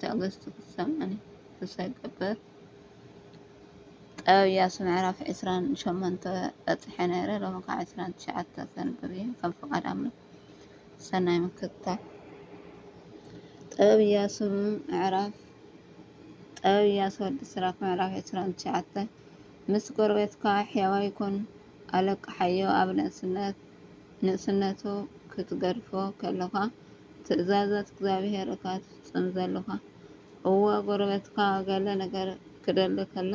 ትዕግስቲ ክትሰምዕን ተስፋይ እገብር። ጥበብ ኢያሱ ምዕራፍ ዕስራን ሸሞንተ በጺሐ ነይረ ሎሚ ከዓ ዕስራን ትሽዓተ ከንብብ እየ ከም ፍቃድ ኣምላኽ ሰናይ ምክትታል ጥበብ ኢያሱ ምዕራፍ ጥበብ ኢያሱ ወዲ ስራክ ምዕራፍ ዕስራን ትሽዓተ ምስ ጎረቤትካ ሕያዋይ ኩን ኣለቅሓዮ ኣብ ንእስነት ንእስነቱ ክትገድፎ ከለኻ ትእዛዛት እግዚኣብሄር እካ ትፍጽም ዘሎካ እወ ጎረበትካ ገለ ነገር ክደሊ ከሎ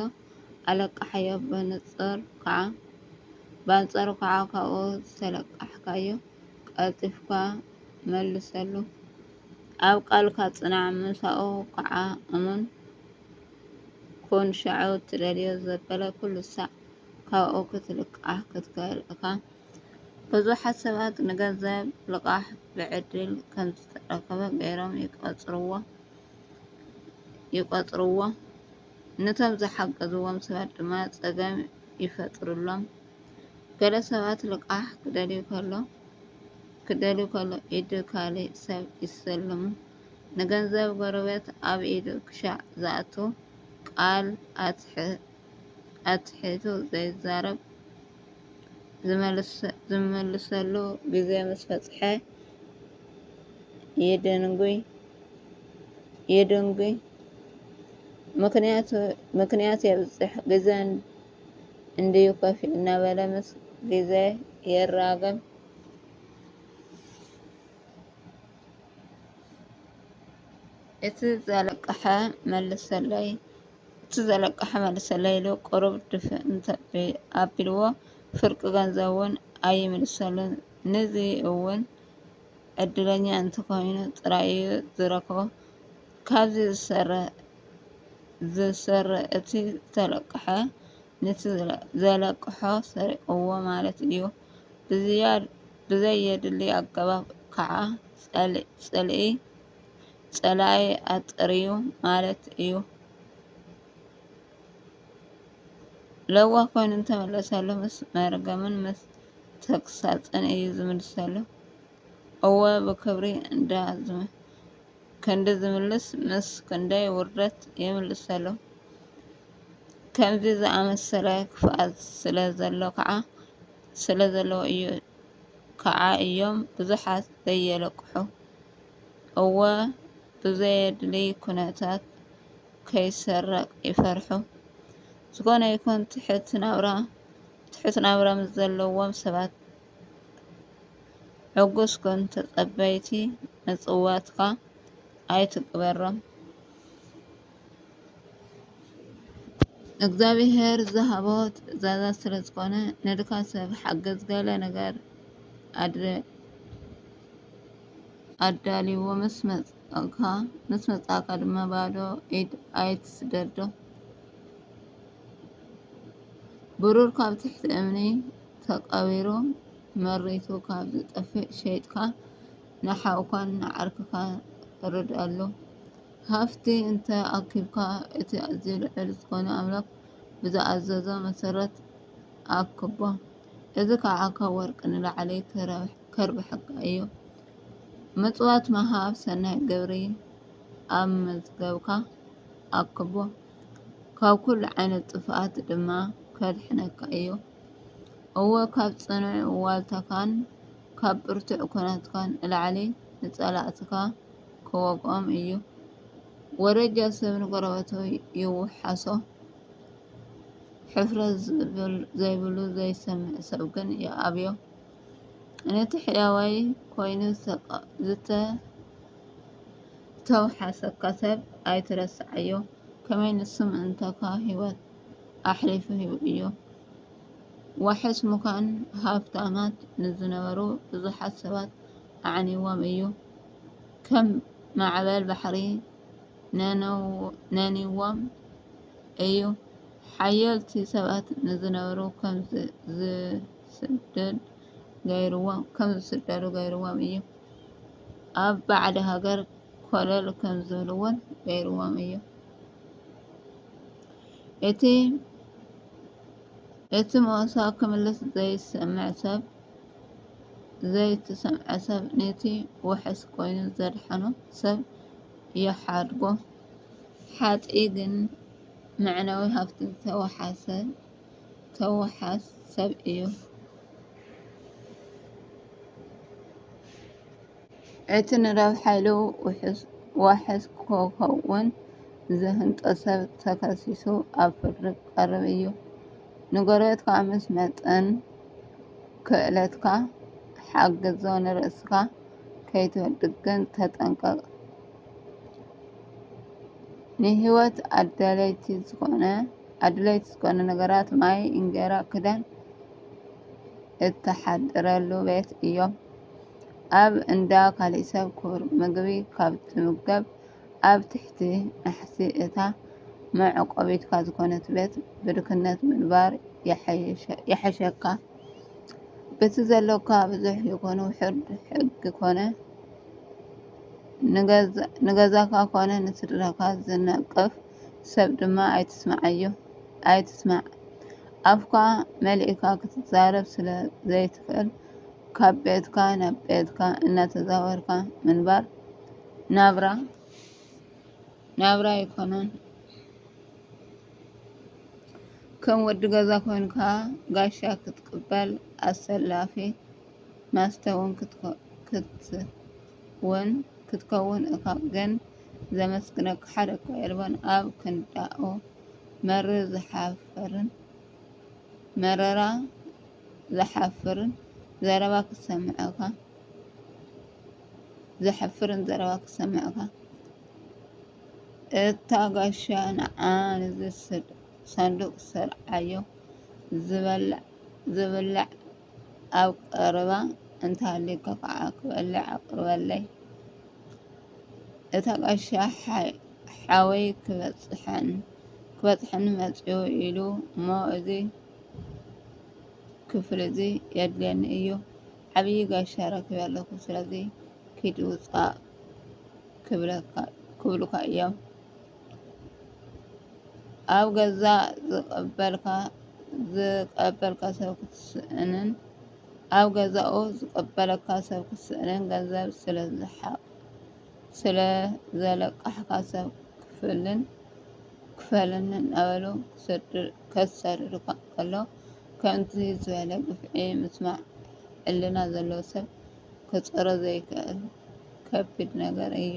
ኣለቃሓዮ ብንጹር ካኣ ባንጸሩ ካኣ ካብኡ ዝተለቃሕካዮ ቀልጢፍካ መልሰሉ ኣብ ቃልካ ጽናዕ ምሳኡ ካኣ እሙን ኩን ሻዑ ትደልዮ ዘበለ ኩሉ ሳዕ ካብኡ ክትልቃሕ ክትክእል እካ ብዙሓት ሰባት ንገንዘብ ልቓሕ ብዕድል ከም ዝተረኽበ ገይሮም ይቘጽርዎ፣ ነቶም ዝሓገዝዎም ሰባት ድማ ጸገም ይፈጥሩሎም። ገለ ሰባት ልቓሕ ክደልዩ ኸለዉ ኢድ ካልእ ሰብ ይስልሙ፣ ንገንዘብ ጐረቤት ኣብ ኢዱ ክሻዕ ዝኣቱ፣ ቃል ኣትሒቱ ዘይዛረብ። ዝምልሰሉ ግዜ ምስ በጽሐ የደንጒ፣ ምኽንያት የብዝሕ፣ ግዘ እንድዩ ከፊኡ እናበለ ምስ ግዘ ይራገም። እቲ ዘለቀሐ መልሰለይ እቲ ዘለቀሐ መልሰለይ ኢሉ ቁሩብ ድፍእ እንተ ኣቢልዎ ፍርቂ ገንዘቡ'ውን ኣይምልሰሉን። ንዚ እውን ዕድለኛ እንተኾይኑ ጥራይ እዩ ዝረክቦ። ካብዚ ዝሰር እቲ ዝተለቀሐ ንቲ ዘለቀሖ ሰሪቕዎ ማለት እዩ። ብዘየድሊ ኣገባብ ከዓ ፅልኢ። ፀላኢ ኣጥርዩ ማለት እዩ። ለዋህ ኮይኑ እንተመለሰሉ ምስ መርገምን ምስ ተግሳፅን እዩ ዝምልሰሉ። እወ ብክብሪ እንዳ ክንዲ ዝምልስ ምስ ክንደይ ውርደት ይምልሰሉ። ከምዚ ዝኣመሰለ ክፍኣት ስለ ዘሎ ከዓ ስለ ዘለዎ እዩ ከዓ እዮም ብዙሓት ዘየለቅሑ። እወ ብዘየድልይ ኩነታት ከይሰረቕ ይፈርሑ። ዝኾነ ይኹን ትሑት ናብራ ትሑት ናብራ ምስ ዘለዎም ሰባት ዕጉስ ኩን ተጸበይቲ ምጽዋትካ ኣይትግበሮም። እግዚኣብሔር ዝሃቦ ትእዛዛት ስለ ዝኾነ ንድካ ሰብ ሓግዝ ገለ ነገር ኣድርግ። ኣዳልዎ ምስ መጻእካ ምስ መጻእካ ድማ ባዶ ኢድ ኣይትስደዶ። ብሩር ካብ ትሕቲ እምኒ ተቐቢሩ መሪቱ ካብ ዝጠፍእ ሸይጥካ ንሓውካን ንዓርክካን ርድኣሉ። ሃፍቲ እንተ ኣኪብካ እቲ ኣዝዩ ልዑል ዝኾነ ኣምላኽ ብዝኣዘዞ መሰረት ኣክቦ። እዚ ከዓ ካብ ወርቂ ንላዕሊ ትረብሕ። ከርብሐካ እዩ። ምጽዋት ምሃብ ሰናይ ግብሪ ኣብ መዝገብካ ኣክቦ፣ ካብ ኩሉ ዓይነት ጥፍኣት ድማ ከድሕነካ እዩ። እወ ካብ ጽኑዕ ዋልታካን ካብ ብርቱዕ ኩናትካን ንላዕሊ ንጸላእትካ ክወግኦም እዩ። ወረጃ ሰብ ንጎረበቱ ይውሓሶ፣ ሕፍረት ዘይብሉ ዘይሰምዕ ሰብ ግን ይኣብዮ። ነቲ ሕያዋይ ኮይኑ ዝተውሓሰካ ሰብ ኣይትረስዓዮ፣ ከመይ ንሱ ምእንታኻ ህይወቱ ኣሕሊፉ ሂቡ እዩ። ዋሕስ ምዃን ሃብታማት ንዝነበሩ ብዙሓት ሰባት ኣዕኒዎም እዩ፣ ከም ማዕበል ባሕሪ ነኒዎም እዩ። ሓየልቲ ሰባት ንዝነበሩ ከም ስደድ ገይርዎም ከም ዝስደዱ ገይርዎም እዩ። ኣብ ባዕዲ ሃገር ኮለል ከም ዝብልዎን ገይርዎም እዩ። እቲ እቲ ሞሳ ክምልስ ዘይሰምዕ ሰብ ዘይትሰምዐ ሰብ ነቲ ውሕስ ኮይኑ ዘድሓኖ ሰብ ይሓድጎ ሓጢ ግን መዕነዊ ሃብቲ ተወሓሰ ከውሓስ ሰብ እዩ። እቲ ንረብሓ ኢሉ ዋሕስ ክኸውን ዝህንጦ ሰብ ተኸሲሱ ኣብ ፍርዲ ክቐርብ እዩ። ንጎረቤትካ ምስ መጠን ክእለትካ ሓግዞ ንርእስኻ ከይትወድቕ ግን ተጠንቀቕ። ንህይወት ኣድለይቲ ዝዀነ ነገራት ማይ፣ እንጌራ፣ ክዳን እተሓድረሉ ቤት እዮም። ኣብ እንዳ ካልእ ሰብ ክቡር ምግቢ ካብ ትምገብ፣ ኣብ ትሕቲ ናሕሲ እታ መዕቆቢትካ ዝዀነት ቤት ብድኽነት ምንባር ይሕሸካ። በቲ ዘሎካ ብዙሕ ይኹን ውሑድ ሕጊ ኰነ፣ ንገዛኻ ኮነ ንስድራኻ ዝነቅፍ ሰብ ድማ ኣይትስምዓዮ፣ ኣይትስማዕ። ኣፍካ መሊእካ ክትዛረብ ስለ ዘይትኽእል፣ ካብ ቤትካ ናብ ቤትካ እናተዛወርካ ምንባር ናብራ ናብራ ኣይኮነን። ከም ወዲ ገዛ ኮንካ ጋሻ ክትቅበል ኣሰላፊ። ማስተ ውን ክትከውን እካ ግን ዘመስግነካ ሓደ እኳ የልቦን ኣብ ክንዳኡ መርር ዝሓፍርን መረራ ዘሕፍርን ዘረባ ክሰምዕካ እታ ጋሻ ንዓ ንዚ ሳንዱቅ ሰርዓዮ ዝብላዕ ኣብ ቀረባ እንተሃልዩካ ከዓ ክበልዕ ኣቅርበለይ እታ ቀሻ ሓወይ ክበፅሐን ክበፅሐኒ መፅኡ ኢሉ እሞ እዚ ክፍሊ እዚ የድልየኒ እዩ ዓብዪ ጋሻ ረኪበ ኣለኩ ስለዚ ኪድ ውፃእ ክብሉካ እዮም ኣብ ገዛ ዝቐበልካ ዝቐበልካ ሰብ ክትስእንን ኣብ ገዛኡ ዝቐበለካ ሰብ ክትስእንን ገንዘብ ስለዝሓቕ ስለዘለቃሕካ ሰብ ክፍልን ክፈልን እናበሉ ከሳድዱካ ከሎ ከምዚ ዝበለ ግፍዒ ምስማዕ ሕልና ዘለዎ ሰብ ክፀሮ ዘይክእል ከቢድ ነገር እዩ።